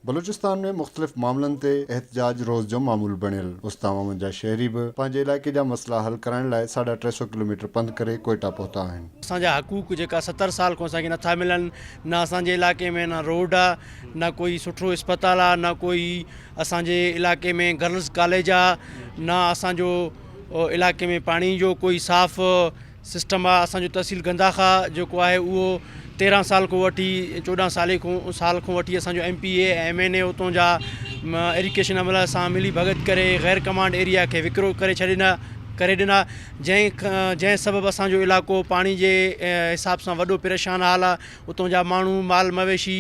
بلوچستان ۾ مختلف معاملن تي احتجاج روز جو معمول بڻيل، استعوامن جا شهري به پنهنجي علائقي جا مسئلا حل ڪرائڻ لاء ساڍا ٽي سؤ ڪلوميٽر پنڌ ڪري ڪوئيٽا پهتا آهن. اسان جا حقوق جيڪا ستر سال کان اسان کي نٿا ملن نه اسان جي علائقي ۾ نه روڊ آ نه ڪوئي سٺو اسپتال آ نه ڪوئي اسان جي علائقي ۾ گرلز ڪاليج آ نه اسان جو علائقي ۾ پاڻي جو ڪوئي صاف سسٽم آ اسان جو تحصيل گنداخا جيڪو آهي اهو تيرهن سال کون وٺي چوڏهن سالي کون سال کون وٺي اسان جو M P A M N A اتون جا ايريڪيشن عمله سان ملي ڀڳت ڪري غير ڪمانڊ ايريا کي وڪرو ڪري ڇڏينا ڪري ڏنا جنهن جنهن سبب اسان جو علائقو پاڻي جي حساب سان وڏو پريشان حال آ اتون جا ماڻهو مال مويشي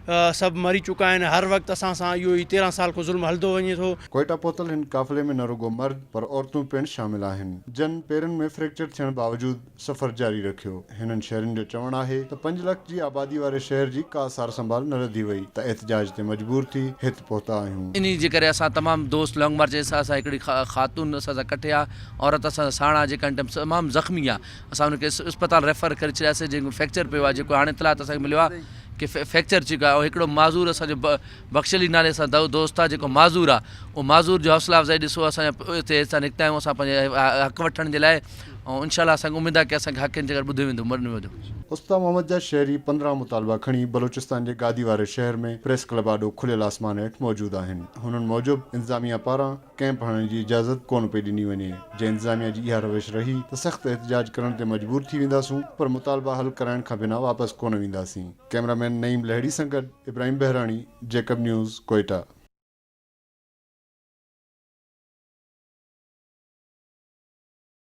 سڀ مري چڪا آهن. هر وقت اسان سان اهو ئي تيرهن سال کان ظلم هلندو وڃي ٿو. ڪوئيٽا پهتل هن قافلي ۾ نه رڳو مرد پر عورتون پڻ شامل آهن جن پيرن ۾ فريڪچر ٿيڻ باوجود سفر جاري رکيو. هنن شهرين جو چوڻ آهي ته پنج لک جي آبادي واري شهر جي ڪا سارسنڀال نه رڌي وئي ته احتجاج تي مجبور ٿي هت پهتا آهيون. انهي جي ڪري اسان تمام دوست لانگ مارچ جي ساٿ سان هڪڙي خاتون اسان سان ڪٺي آ عورت اسان سان ساڻ آ جيڪا هن ٽائيم تمام زخمي آ اسان ان کي اسپتال ريفر ڪري ڇڏياسي جنهن کي فريڪچر پيو آ جيڪو هاڻي اطلاعات اسان کي مليو آ کي فيڪچر چڪا ۽ هڪڙو معذور اسان جو بخشلي نالي سان دوست آ جيڪو معذور آ اهو معذور جو حوصلا افزائي ڏسو اسان هتي هتان نڪتا آهيون اسان پنهنجي حق وٺڻ جي لاء ۽ انشاء الله اسان کي اميد آ ڪي اسان کي حق انتي ڪري ٻڌو ويندو مرڻ ويندو. استا محمد جا شهري پندرهن مطالبا کڻي بلوچستان جي گادي واري شهر ۾ پريس ڪلب آڏو کليل آسمان هيٺ موجود آهن هنن موجب انتظاميه پاران ڪئمپ هڻڻ جي اجازت ڪونه پئي ڏني وڃي، جي انتظاميا جي اها روش رهي ته سخت احتجاج ڪرڻ تي مجبور ٿي وينداسون پر مطالبا حل ڪرائڻ کان بنا واپس ڪونه وينداسين، ڪئميرا مين نعيم لهڙي سان گڏ ابراهيم بهراڻي، جيڪب نيوز، ڪوئيٽا.